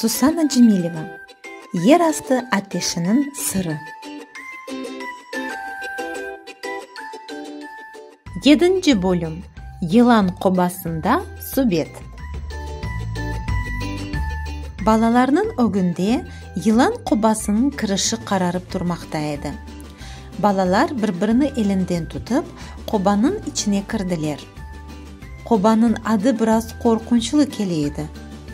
Susana Cemileva, Yer astı ateşiniñ sırı. Yedinci bölüm, Yılan qobasında subet. Balalarnıñ ögünde yılan qobasınıñ kirişi qararıp turmaqta edi. Balalar bir-birini elinden tutıp, qobanıñ içine kirdiler. Qobanıñ adı biraz qorqunçlı kele edi,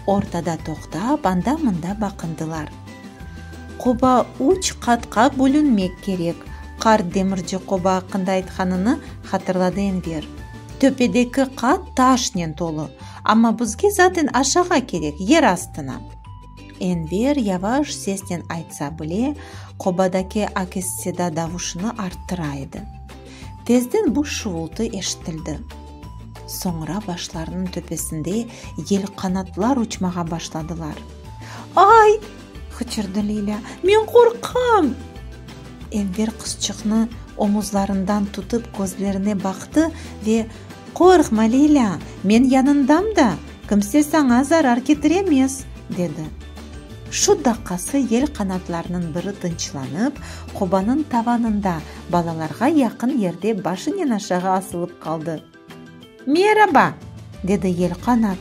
ortada toqtap, anda-mında baqındılar. Qoba üç qatqa bölünmek kerek, qart demirci qoba aqqında aytqanını hatırladı Enver. Töpedeki qat taşnen tolu, amma bizge zaten aşağa kerek, yer astına. Enver yavaş sesnen aytsa bile, qobadaki akisseda davuşını arttıra edi. Tezden bu şuvultı eşitildi. Soñra başlarınıñ töpesinde yelqanatlar uçmağa başladılar. Ay! qıçırdı Lilâ. Men qorqam! Enver qızçıqnı omuzlarından tutıp közlerine baqtı ve, Qorqma, Lilâ, men yanındam da, kimse saña zarar ketiremez, dedi. Şu daqqası yelqanatlarnıñ biri tınçlanıp, qobanıñ tavanında balalarğa yaqın yerde başınen aşağı asılıp qaldı. Meraba! dedi Yelqanat.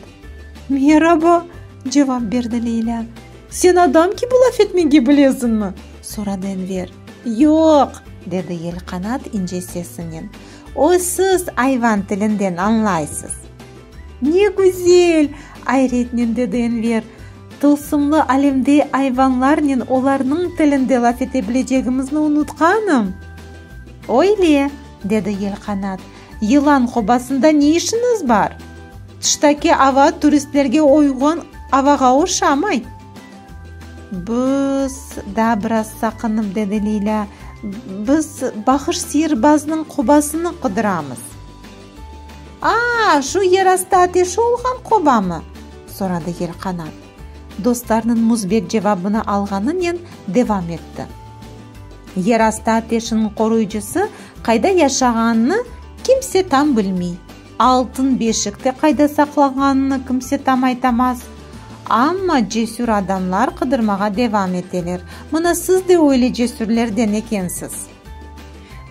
Meraba! cevap berdi Leylâ. Sen adam kibi laf etmege bilesiñmi? soradı Enver. Yoq! dedi Yelqanat ince sesinen. Oy, siz ayvan tilinden añlaysız. Ne güzel! Ayretnen dedi Enver, tılsımlı alemde ayvanlarnen olarnıñ tilinde laf ete bilecegimizni unutqanım. Öyle, dedi Yelqanat, yılan qobasında ne işiñiz bar? Tıştaki ava turistlerge uyğun avağa oşamay. Biz, daa biraz saqınıp dedi Leylâ, biz Bahış sihirbaznıñ qobasını qıdıramız. Aa, şu yerastı ateşi olğan qobamı? soradı Yelqanat, dostlarnıñ müsbet cevabını alğanınen devam etti. Yerastı ateşiniñ qoruyıcısı qayda yaşağanını kimse tam bilmey, altın beşik de qayda saqlanğanını kimse tam aytamaz. Amma cesür adamlar qıdırmağa devam eteler, mına siz de öyle cesürlerden ekensiz.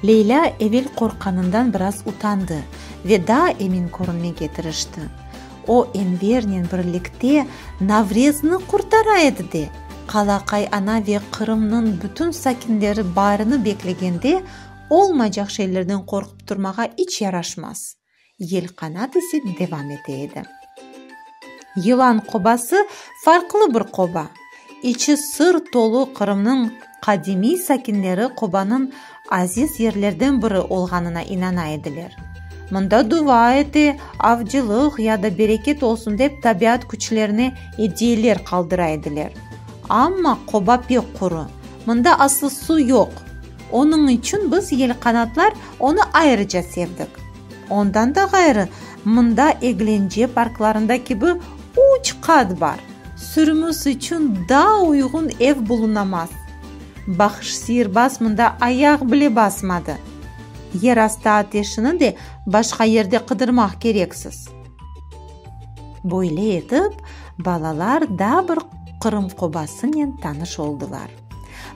Leylâ evel qorqqanından biraz utandı ve daa emin körünmege tırıştı. O, Envernen birlikte Navrezni qurtara edi de, qala qayana ve Qırımnıñ bütün sakinleri barını beklegende olmaycaq şeylerden qorqıp turmağa iç yaraşmaz. Yelqanat ise devam ete edi. Yılan qobası farqlı bir qoba. İçi sır tolu Qırımnıñ qadimiy sakinleri qobanıñ aziz yerlerden biri olğanına inana ediler. Mında dua ete, avcılıq ya da bereket olsun dep tabiat küçlerine ediyeler qaldıra ediler. Amma qoba pek quru. Mında aslı su yoq. Onıñ içün biz, yelqanatlar, onı ayrıca sevdik. Ondan da ğayrı, mında Eglence parklarında kibi üç qat bar. Sürümüz içün daa uyğun ev bulunamaz. Bahş siyirbaz mında ayaq bile basmadı. Yerastı ateşini de başqa yerde qıdırmaq kereksiz. Böyle etip, balalar daa bir Qırım qobasınen tanış oldılar.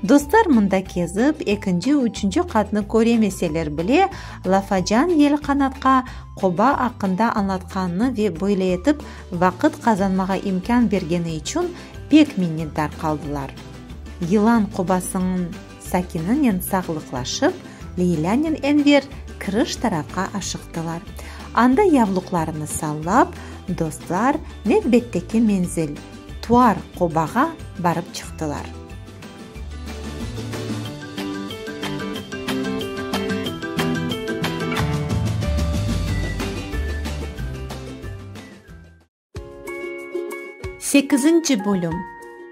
Dostlar mında kezip, ekinci, üçünci qatnı köremeseler bile, Lafacan yelqanatqa qoba aqqında añlatqanını ve böyle etip vaqıt qazanmağa imkân bergeni içün pek minnetdar qaldılar. Yılan qobasıñın sakininen sağlıqlaşıp, Leylânen Enver kiriş tarafqa aşıqtılar. Anda yavluqlarını sallap, dostlar nevbetteki menzil. Tuar qobağa barıp çıqtılar. Sekizinci bölüm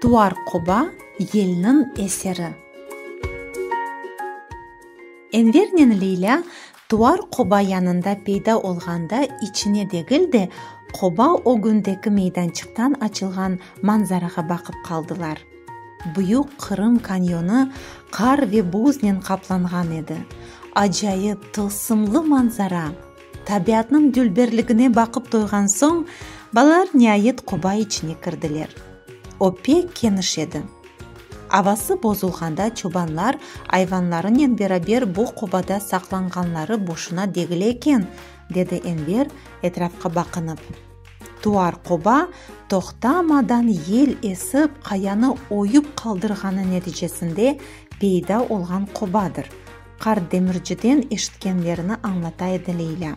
Tuar qoba yelniñ eseri Envernen Leylâ Tuvar qoba yanında peyda olğanda içine degil de, qoba ögündeki meydançıqtan açılğan manzarağa baqıp qaldılar. Büyük Qırım kanyonı qar ve buznen qaplanğan edi. Acayip, tılsımlı manzara! Tabiatnıñ dülberligine baqıp toyğan soñ, balalar niayet qoba içine kirdiler. O pek keniş edi. Avası bozulğanda çobanlar ayvanlarınen beraber bu qobada saqlanğanları boşuna degil eken, dedi Enver, etrafqa baqınıp. Tuar qoba toqtamadan yel esip qayanı oyup qaldırğanı neticesinde peyda olğan qobadır. Qart demirciden eşitkenlerini añlata edi Leylâ.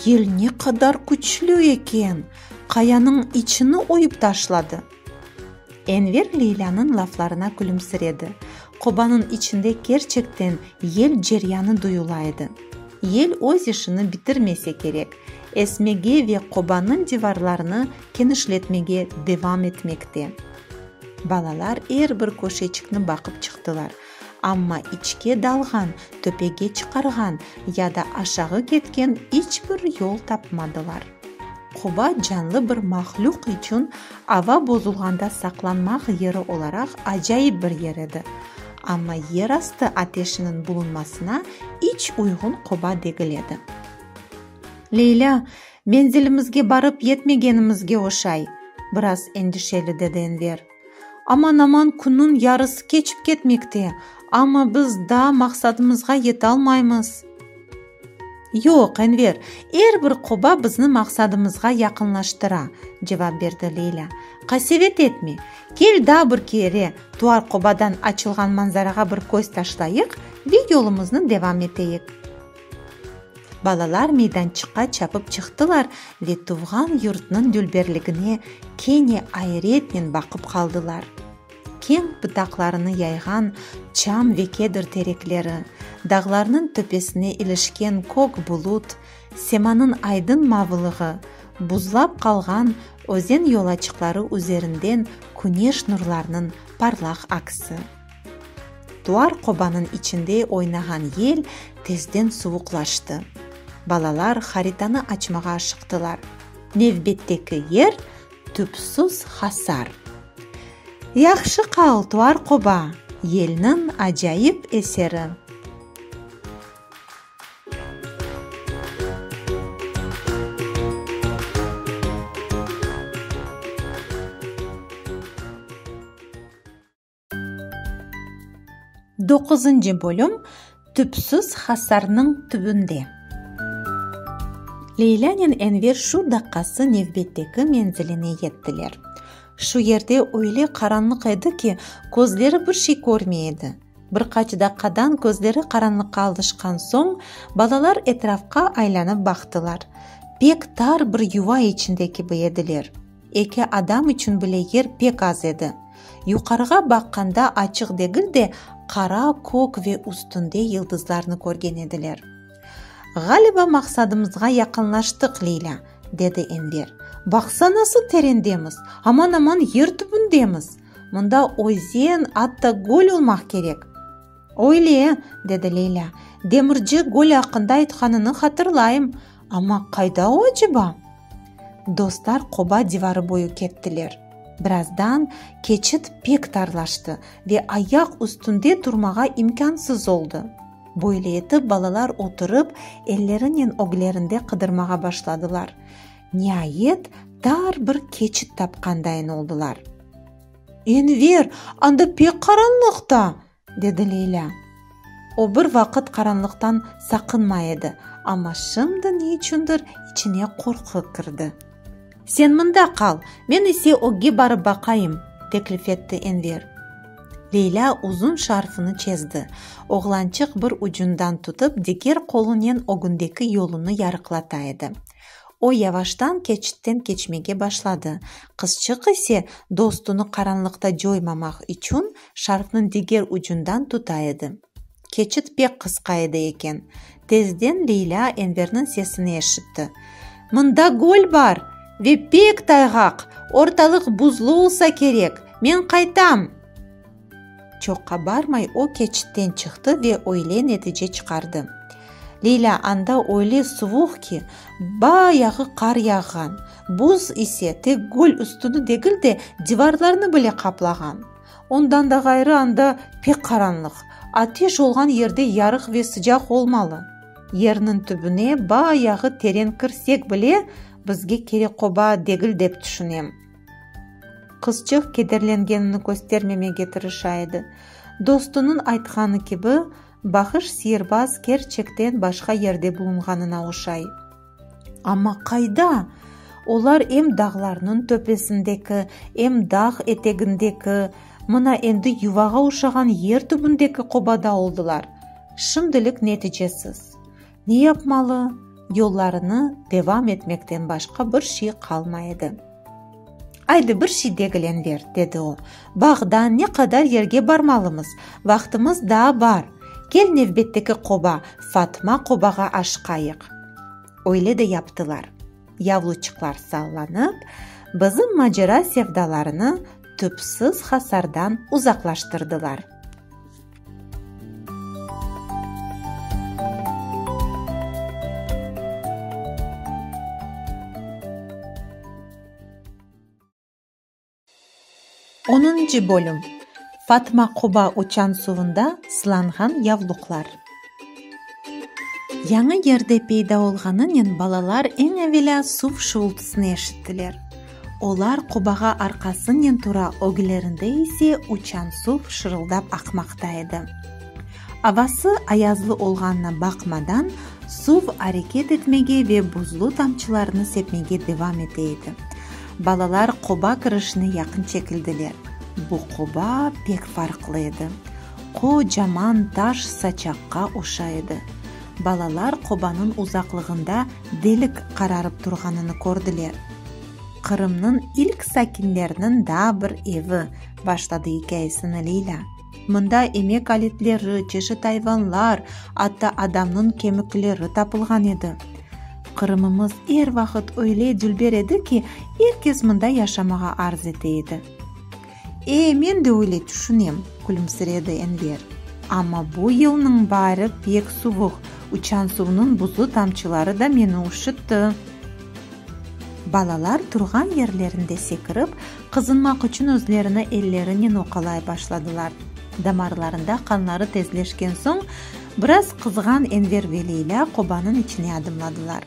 Yel ne qadar küçlü eken, qayanıñ içini oyıp taşladı. Enver Leylânıñ laflarına külümsiredi. Qobanıñ içinde kerçekten yel ceryanı duyula edi. Yel öz işini bitirmese kerek, esmege ve qobanıñ divarlarını kenişletmege devam etmekte. Balalar er bir köşeçikni baqıp çıqtılar. Amma içke dalğan, töpege çıqarğan ya da aşağı ketken iç bir yol tapmadılar. Qoba canlı bir mahlüq içün ava bozulğanda saqlanmaq yeri olaraq acayip bir yer edi. Amma yer astı ateşiniñ bulunmasına iç uyğun qoba degil edi. Leylâ, menzilimizge barıp yetmegenimizge oşay! biraz endişeli dedi Enver. Aman-aman künniñ yarısı keçip ketmekte, amma biz daa maqsadımızğa yetalmaymız. Yoq, Enver, er bir qoba bizni maqsadımızğa yaqınlaştıra, cevap berdi Leyla. Qasevet etme, kel daa bir kere Tuar qobadan açılğan manzarağa bir köz taşlayıq ve yolumıznı devam eteyik. Balalar meydançıqqa çapıp çıqtılar ve tuvğan yurtnıñ dülberligine kene ayretnen baqıp qaldılar. Keñ bıtaqlarını yayğan çam ve kedr terekleri, dağlarnıñ töpesine ilişken kök bulut, semanıñ aydın mavılığı, buzlap qalğan özen yolaçıqları üzerinden küneş nurlarnıñ parlaq aksi. Tuar qobanıñ içinde oynağan yel tezden suvuqlaştı. Balalar haritanı açmağa aşıqtılar. Nevbetteki yer, tüpsüz hasar. Yahşı qal, Tuar qoba, yelniñ acayip eseri! Doquzıncı bölüm Tüpsüz hasarnıñ tübünde Leylânen Enver şu daqqası nevbetteki menziline yettiler. Şu yerde öyle qaranlıq edi ki, közleri bir şey körmey edi. Bir qaç daqqadan közleri qaranlıqqa alışqan soñ, balalar etrafqa aylanıp baqtılar. Pek tar bir yuva içinde kibi ediler. Eki adam içün bile yer pek az edi. Yuqarığa baqqanda açıq degil de, qara kök ve üstünde yıldızlarnı körgen ediler. Ğaliba maqsadımızğa yaqınlaştıq, Leylâ, dedi Enver. Baqsa, nasıl terendemiz, aman-aman yer tübündemiz! Mında özen, atta göl olmaq kerek. Öyle, dedi Leylâ. Demirci göl aqqında aytqanını hatırlayım. Amma qayda o aceba? Dostlar qoba divarı boyu kettiler. Birazdan keçit pek tarlaştı ve ayaq üstünde turmağa imkânsız oldı. Böyle etip balalar oturıp, ellerinen öglerinde qıdırmağa başladılar. Niayet, tar bir keçit tapqandayın oldılar. Enver, anda pek qaranlıqta! Dedi Leylâ. O bir vaqıt qaranlıqtan saqınmay edi, amma şimdi ne içündir içine qorqu kirdi. Sen mında qal, men ise ögge barıp baqayım, teklif etti Enver. Leylâ uzun şarfını çezdi, oğlançıq bir ucundan tutıp diger qolunen ögündeki yolunı yarıqlata edi. O yavaştan keçitten keçmege başladı, qızçıq ise dostunı qaranlıqta coymamaq içün Şarqnıñ diger ucundan tuta edi. Keçit pek qısqa edi eken. Tezden Leylâ Enverniñ sesini eşitti. Mında göl bar! Ve pek tayğaq! Ortalıq buzlu olsa kerek! Men qaytam! Çoqqa barmay o keçitten çıqtı ve öyle netice çıqardı. Leylâ anda öyle suvuq ki, ba yağı qar yağğan, buz ise tek göl üstüni degil de, divarlarnı bile qaplağan. Ondan da ğayrı anda pek qaranlıq. Ateş olğan yerde yarıq ve sıcaq olmalı. Yerniñ tübüne bayağı teren kirsek bile, bizge kerek qoba degil dep tüşünem. Qızçıq kederlengenini köstermemege tırışa edi. Dostunıñ aytqanı kibi, Bahış siyirbaz kerçekten başqa yerde bulunğanına oşay. Amma qayda? Olar em dağlarnıñ töpesindeki, em dağ etegindeki, mına endi yuvağa oşağan yer tübündeki qobada oldılar. Şimdilik neticesiz. Ne yapmalı? Yollarını devam etmekten başqa bir şey qalmay edi. Aydı, bir şey degilen ver, dedi o. Bağdan ne qadar yerge barmalımız? Vaqtımız daa bar. Kel, nevbetteki qoba, Fatma qobağa aşıqayıq. Öyle de yaptılar. Yavluçıqlar sallanıp, bizim macera sevdalarını tüpsiz hasardan uzaqlaştırdılar. Onıncı bölüm Fatma Quba uçan suvunda sılanğan yavluqlar. Yañı yerde peyda olğanınen balalar eñ evelâ suv şuvultısını eşittiler. Olar qobağa arqasınen tura ögülerinde ise uçan suv şırıldap aqmaqta edi. Avası ayazlı olğanına baqmadan, suv areket etmege ve buzlu tamçılarını sepmege devam ete edi. Balalar qoba kirişine yaqın çekildiler. Bu qoba pek farqlı edi. Qocaman taş saçaqqa oşa edi. Balalar qobanıñ uzaqlığında delik qararıp turğanını kördiler. Qırımnıñ ilk sakinleriniñ daa bir evi, başladı ikâyesini Leyla. Mında emek aletleri, çeşit ayvanlar, atta adamnıñ kemikleri tapılğan edi. Qırımımız er vaqıt öyle dülber edi ki, er kes mında yaşamağa arz ete edi. E, men de öyle tüşünem, külümsiredi Enver. Amma bu yılnıñ baarı pek suvuq, uçan suvnıñ buzlu tamçıları da meni üşütti. Balalar turğan yerlerinde sekirip, qızınmaq içün özlerini ellerinen oqalay başladılar. Damarlarında qanları tezleşken soñ, biraz qızğan Enver ve Leylâ qobanıñ içine adımladılar.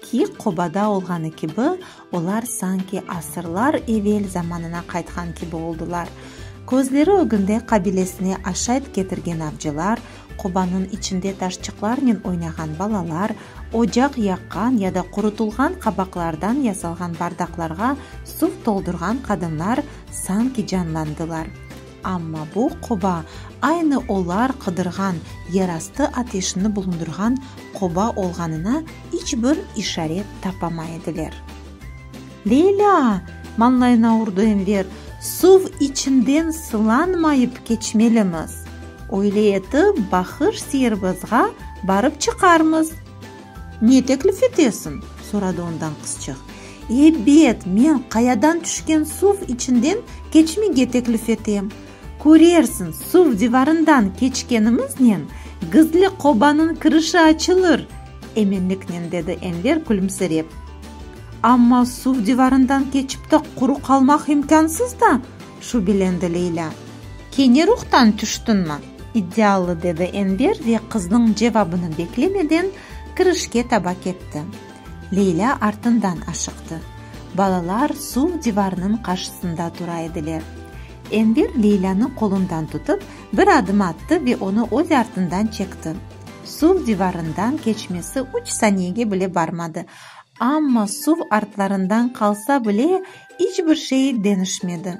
Ki, qobada olğanı kibi, olar sanki asırlar evel zamanına qaytqan kibi oldılar. Közleri ögünde qabilesine aşayt ketirgen avcılar, qobanıñ içinde taşçıqlarnen oynağan balalar, ocaq yaqqan ya da qurutılğan qabaqlardan yasalğan bardaqlarğa suv toldurğan qadınlar sanki canlandılar. Amma bu qoba aynı olar qıdırğan yerastı ateşini bulundırğan qoba olğanına iç bir işaret tapamay ediler. Leylâ! manlayına urdı Enver, suv içinden sılanmayıp keçmelimiz. Öyle etip Bahır Seyirbazğa barıp çıqarmız. Ne teklif etesiñ? soradı ondan qızçıq. Ebet, men qayadan tüşken suv içinden keçmege teklif etem. Körersiñ, suv divarından keçkenimiznen, gizli qobanıñ kirişi açılır, eminliknen dedi Enver külümsirep. Amma suv divarından keçip de quru qalmaq imkânsız da, şübelendi Leylâ. Kene ruhtan tüştiñmi? İddialı, dedi Enver ve qıznıñ cevabını beklemeden kirişke taba ketti. Leylâ artından aşıqtı. Balalar suv divarnıñ qarşısında tura ediler. Enver Leylânı qolundan tutıp, bir adım attı ve onı öz artından çekti. Suv divarından keçmesi üç saniyege bile barmadı, amma suv artlarından qalsa bile, iç bir şey denişmedi.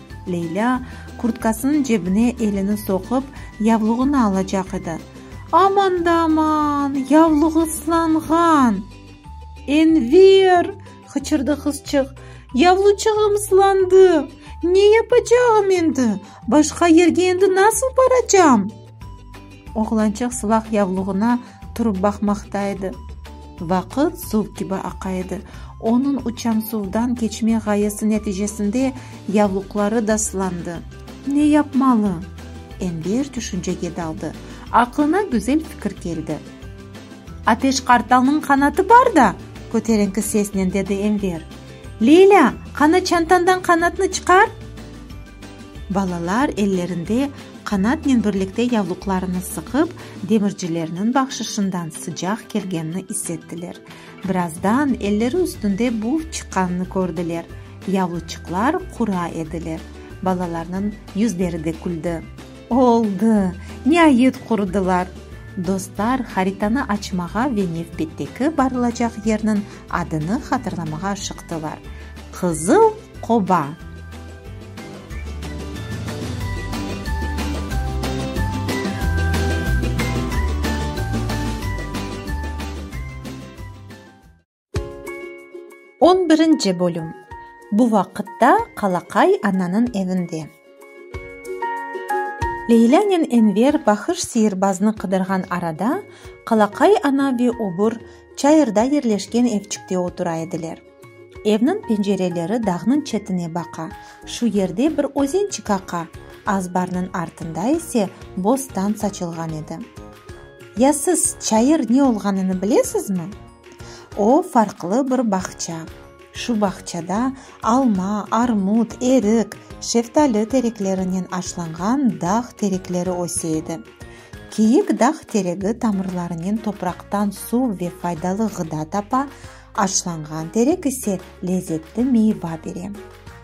Leylâ, kurtkasınıñ cebine elini soqup, yavluğını alacaq edi. Aman da aman, yavluq ıslanğan! Enver! hıçırdı qızçıq. Yavluçığım ıslandı! Ne yapacağım endi? Başqa yerge endi nasıl baracam? Oğlançıq suvaq yavluğına turıp baqmaqta edi. Vaqıt suv kibi aqa edi. Onıñ uçamsuvdan keçme ğayesi neticesinde yavluqları da sılandı. Ne yapmalı? Enver tüşüncege daldı. Aqlına güzel fikir keldi. Ateş qartalnıñ qanatı bar da! köterenki sesnen dedi Enver. Leylâ, qana çantañdan qanatnı çıqar! Balalar ellerinde qanatnen birlikte yavluqlarını sıqıp, demircilerniñ bahşışından sıcaq kelgenini is ettiler. Birazdan elleri üstünde buf çıqqanını kördiler. Yavluçıqlar qura ediler. Balalarnıñ yüzleri de küldi. Oldı! Niayet qurudılar! Dostlar haritanı açmağa ve nevbetteki barılacaq yerniñ adını hatırlamağa aşıqtılar. Qızıl qoba! On birinci bölüm Bu vaqıtta Qalaqay ananıñ evinde. Leylânen Enver Bahış sıyırbaznı qıdırğan arada, Qalaqay ana ve öbür, çayırda yerleşken evçikte otura ediler. Evniñ pencereleri dağnıñ çetine baqa, şu yerde bir özençik aqa, azbarnıñ artında ise bostan saçılğan edi. Ya siz çayır ne olğanını bilesizmi? O, farqlı bir bağça. Şu bağçada alma, armut, erik, şeftali tereklerinen aşlanğan dağ terekleri öse edi. Kiyik dağ teregi tamırlarınen topraqtan suv ve faydalı ğıda tapa, Açlanğan terek ise lezetli meyva bere.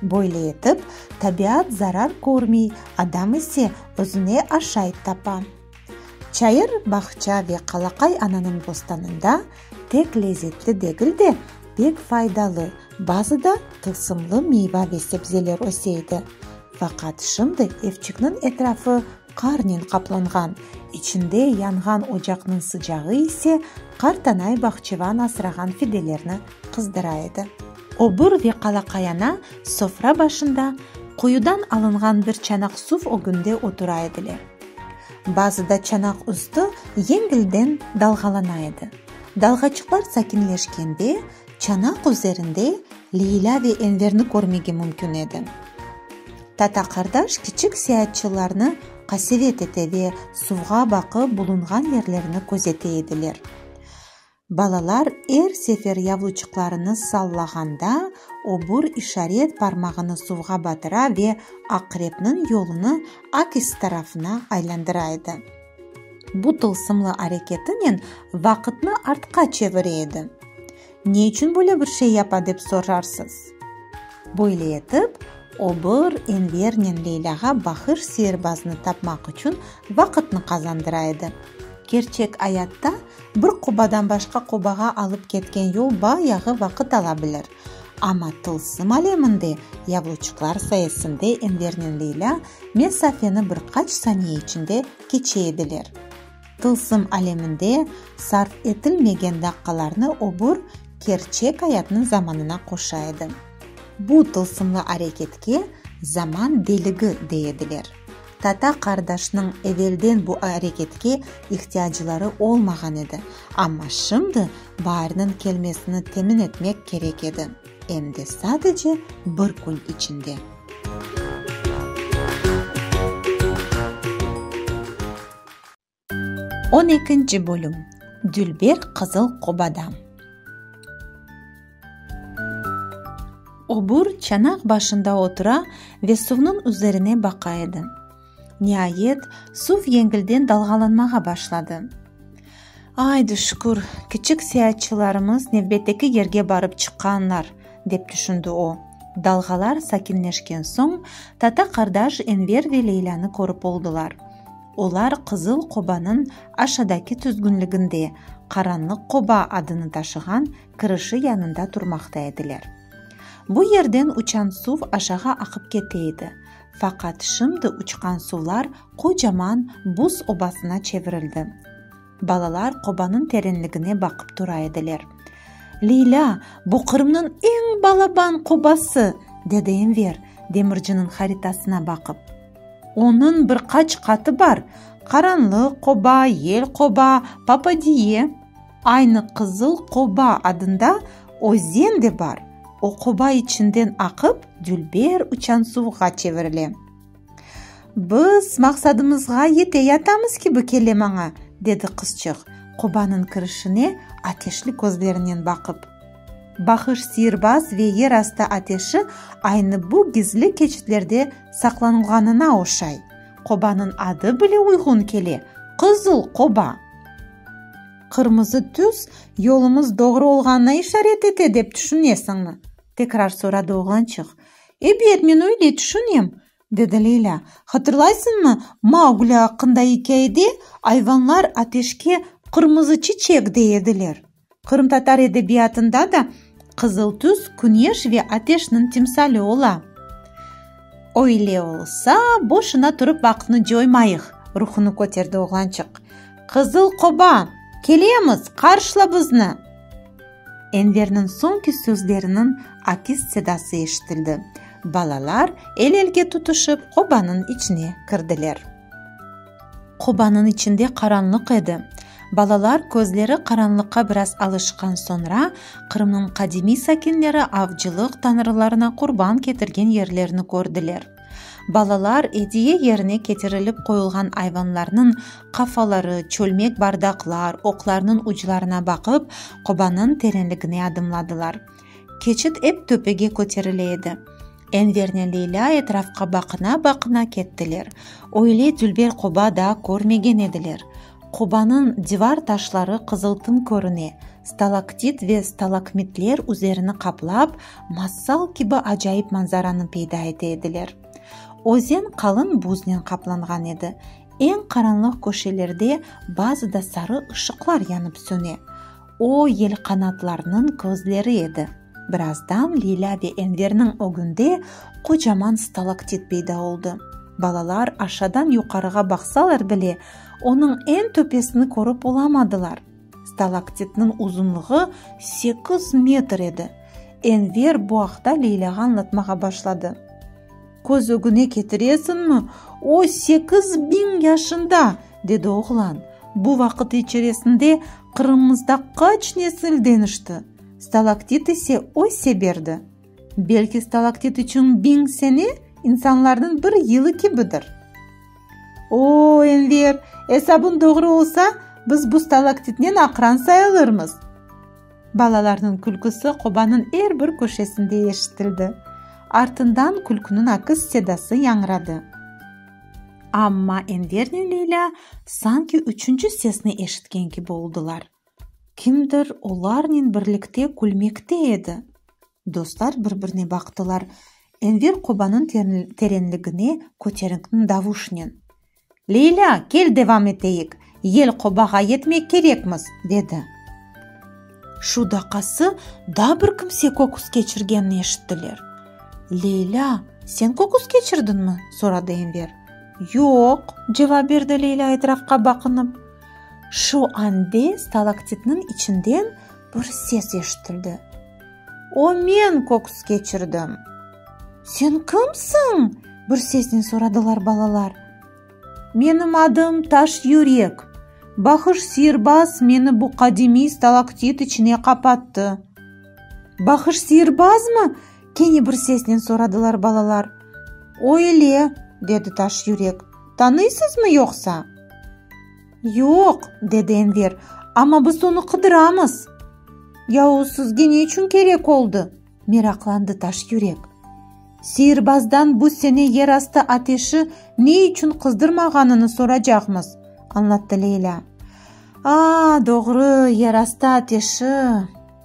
Böyle etip, tabiat zarar körmey, adam ise özüne aşayt tapa. Çayır bağça ve Qalaqay ananıñ bostanında tek lezetli degil de, pek faydalı, bazı da tılsımlı meyva ve sebzeler öse edi. Faqat şimdi evçikniñ etrafı Qarnen qaplanğan, içinde yanğan ocaqnıñ sıcağı ise qartanay bahçıvan asrağan fidelerni qızdıra edi. Obur ve qalaqayana sofra başında, quyudan alınğan bir çanaq suv ögünde otura ediler. Bazıda çanaq üstü yengilden dalğalana edi. Dalğaçıqlar sakinleşkende, çanaq üzerinde Leylâ ve Enverni körmege mümkün edi. Tata qardaş kiçik seyaatçılarnı qasevet ete ve suvğa baqıp bulunğan yerlerini közete ediler. Balalar er sefer yavluçıqlarını sallağanda obur işaret parmağını suvğa batıra ve aqrepniñ yolunı akis tarafına aylandıra edi. Bu tılsımlı areketinen vaqıtnı artqa çevire edi. Ne içün böyle bir şey yapa dep sorarsız? Böyle etip, o bir Envernen Leylâğa bahır seyirbaznı tapmaq içün vaqıtnı qazandıra edi. Kerçek ayatta bir qobadan başqa qobağa alıp ketken yol bayağı vaqıt ala bilir. Amma tılsım aleminde yabloçıqlar sayesinde Envernen Leylâ mesafeni bir qaç saniye içinde keçe ediler. Tılsım aleminde sarf etilmegen daqqalarnı öbür kerçek ayatnıñ zamanına qoşa edi. Bu tılsımlı areketke zaman deligi dey ediler. Tata qardaşnıñ evelden bu areketke ihtiyacları olmağan edi, amma şimdi Baarniñ kelmesini temin etmek kerek edi, em de sadece bir kün içinde. On ekinci bölüm Dülber qızıl qobada. Obur çanaq başında otura ve suvnıñ üzerine baqa edi. Niayet, suv yengilden dalğalanmağa başladı. Aydı, şükür, kiçik seyaatçılarımız nevbetteki yerge barıp çıqqanlar, dep tüşündi o. Dalğalar sakinleşken soñ, tata-qardaş Enver ve Leylânı körip oldılar. Olar Qızıl qobanıñ aşadaki tüzgünliginde Qaranlıq qoba adını taşığan kirişi yanında turmaqta ediler. Bu yerden uçan suv aşağı aqıp kete edi, faqat şimdi uçqan suvlar qocaman buz obasına çevirildi. Balalar qobanıñ terenligine baqıp tura ediler. Leylâ, bu Qırımnıñ eñ balaban qobası! dedi Enver, demirciniñ haritasına baqıp. Onıñ bir qaç qatı bar, Qaranlıq qoba, Yel qoba, Papadiye. Aynı Qızıl qoba adında özen de bar, o qoba içinden aqıp, dülber uçan suvğa çevirile. Biz maqsadımızğa yete yatamız kibi kele maña, dedi qızçıq, qobanıñ kirişine ateşli közlerinen baqıp. Bahış sihirbaz ve yer astı ateşi aynı bu gizli keçitlerde saqlanılğanına oşay. Qobanıñ adı bile uyğun kele, Qızıl qoba. Qırmızı tüs yolumız doğru olğanına işaret ete dep tüşünesiñmi? tekrar soradı oğlançıq. Ebet, men öyle tüşünem, dedi Leylâ. Hatırlaysıñmı, Maugli aqqında ikâyede ayvanlar ateşke qırmızı çiçek dey ediler? Qırımtatar edebiyatında da qızıl tüs küneş ve ateşniñ timsali ola. Öyle olsa, boşuna turıp vaqıtnı coymayıq, ruhunu köterdi oğlançıq. Qızıl qoba, kelemiz, qarşla bizni! Enverniñ soñki sözleriniñ akis sedası eşitildi. Balalar el-elge tutuşıp qobanıñ içine kirdiler. Qobanıñ içinde qaranlıq edi. Balalar közleri qaranlıqqa biraz alışqan soñra, Qırımnıñ qadimiy sakinleri avcılıq tañrılarına qurban ketirgen yerlerni kördiler. Balalar ediye yerine ketirilip qoyulğan ayvanlarnıñ qafaları, çölmek bardaqlar, oqlarnıñ uclarına baqıp, qobanıñ terenligine adımladılar. Keçit ep töpege köterile edi. Envernen Leyla etrafqa baqına-baqına kettiler. Öyle dülber qoba daa körmegen ediler. Qubanıñ divar taşları qızıltın körüne, stalaktit ve stalakmitler üzerini qaplap, masal kibi acayip manzaranı peyda ete ediler. Özen qalın buznen qaplanğan edi, eñ qaranlıq köşelerde bazıda sarı ışıqlar yanıp söne. O, yelqanatlarnıñ közleri edi. Birazdan Lilâ ve Enverniñ ögünde qocaman stalaktit peyda oldı. Balalar aşadan yuqarığa baqsalar bile, onıñ eñ töpesini körip olamadılar. Stalaktitniñ uzunlığı sekiz metr edi. Enver bu aqta Leylâğa añlatmağa başladı. Köz ögüne ketiresiñmi, o, sekiz biñ yaşında! dedi oğlan. Bu vaqıt içeresinde Qırımımızda qaç nesil deñişti! Stalaktit ise öse berdi. Belki stalaktit içün biñ sene insanlarnıñ bir yılı kibidir. O, Enver, esabıñ doğru olsa, biz bu stalaktitnen aqran sayılırmız! Balalarnıñ külküsi qobanıñ er bir köşesinde eşitildi. Artından külküniñ akis sedası yañradı. Amma Enver ne Leyla sanki üçünci sesni eşitken kibi oldılar. Kimdir olarnen birlikte külmekte edi. Dostlar bir-birine baqtılar. Enver qobanıñ terenligine köterinkn davuşnen. Leyla, kel devam eteyik! yel qobağa yetmek kerekmiz, dedi. Şu daqası da bir kimse köküs keçirgenini eşittiler. Leylâ, sen köküs keçirdinmi? soradı Enver. Yoq, cevap berdi Leylâ etrafqa baqınıp. Şu ande stalaktitniñ içinden bir ses eşitildi. O men köküs keçirdim! Sen kimsiñ? bir sesnen soradılar balalar. Menim adım Taş yürek. Bahış sirbaz meni bu qadimiy stalaktit içine qapattı. Bahış sirbazmı? kene bir sesnen soradılar balalar. Öyle, dedi Taş yürek. Tanıysızmı yoqsa? Yoq, dedi Enver, amma biz onı qıdıramız. Yahu sizge ne içün kerek oldı? Meraqlandı Taş yürek. Sihirbazdan bu sene yerastı ateşi ne içün qızdırmağanını soracaqmız, añlattı Leylâ. A, doğru, yerastı ateşi!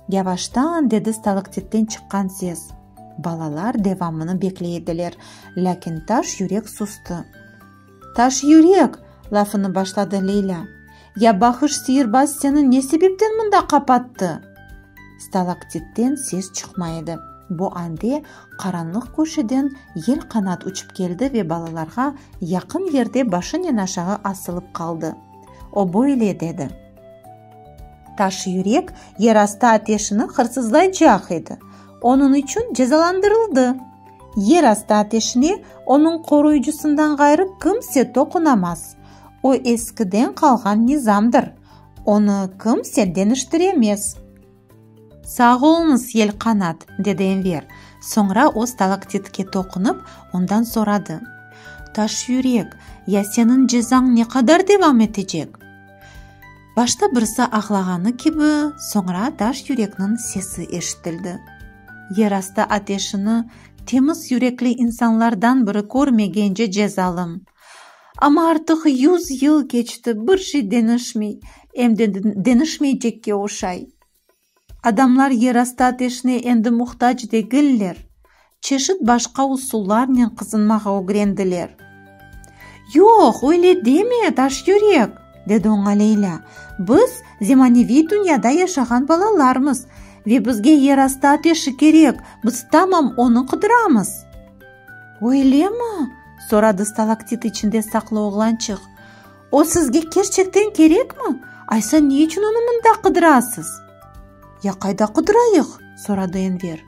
Yavaştan dedi stalaktitten çıqqan ses. Balalar devamını bekley ediler, lâkin Taş yürek sustı. Taş yürek! lafını başladı Leylâ. Ya bahış sihirbaz seni ne sebepten mında qapattı? Stalaktitten ses çıqmay edi. Bu ande qaranlıq köşeden yelqanat uçıp keldi ve balalarğa yaqın yerde başınen aşağı asılıp qaldı. O böyle dedi. Taş yürek yerastı ateşini hırsızlaycaq edi. Onıñ içün cezalandırıldı. Yer astı ateşine onıñ qoruyıcısından ğayrı kimse toqunamaz. O eskiden qalğan nizamdır, onı kimse deñiştiremez. Sağ oluñız, Yelqanat, dedi Enver, soñra o stalaktitke toqunıp, ondan soradı, Taşyürek, ya seniñ cezañ ne qadar devam etecek? Başta birisi ağlağanı kibi, soñra daş yürekniñ sesi eşitildi. Yerastı ateşini temiz yürekli insanlardan biri körmegence cezalım. Amma artıq yüz yıl keçti, bir şey deñişmey, em de deñişmeycekke oşay. Adamlar yerastı ateşine endi muhtac degiller, çeşit başqa usullarnen qızınmağa ögrendiler. Yoq, öyle deme, daş yürek! dedi oña Leylâ. Biz, zemaneviy dünyada yaşağan balalarmız ve bizge yerastı ateşi kerek, biz tamam onı qıdıramız. Öylemi? soradı stalaktit içinde saqlı oğlançıq. O sizge kerçekten kerekmi? Aysa ne içün onı mında qıdırasız? Ya qayda qıdırayıq? soradı Enver.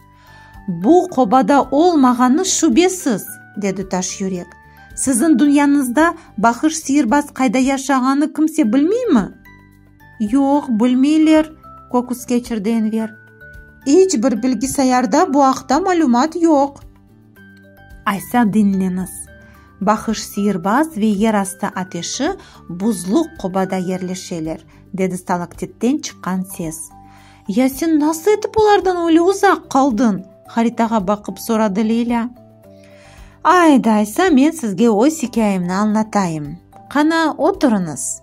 Bu qobada olmağanı şübesiz, dedi Taş yürek. Siziñ dünyañızda Bahış siyirbaz qayda yaşağanı kimse bilmeymi? Yoq, bilmeyler, köküs keçirdi Enver. İç bir bilgisayarda bu aqta malümat yoq. Aysa diñleñiz. Bahış Siyirbaz ve yer astı ateşi buzlu qobada yerleşeler, dedi stalaktitten çıqqan ses. Ya sen nasıl etip olardan öyle uzaq qaldıñ? haritağa baqıp soradı Leylâ. Aydı, Aysa, men sizge öz ikâyemni añlatayım. Qana, oturıñız.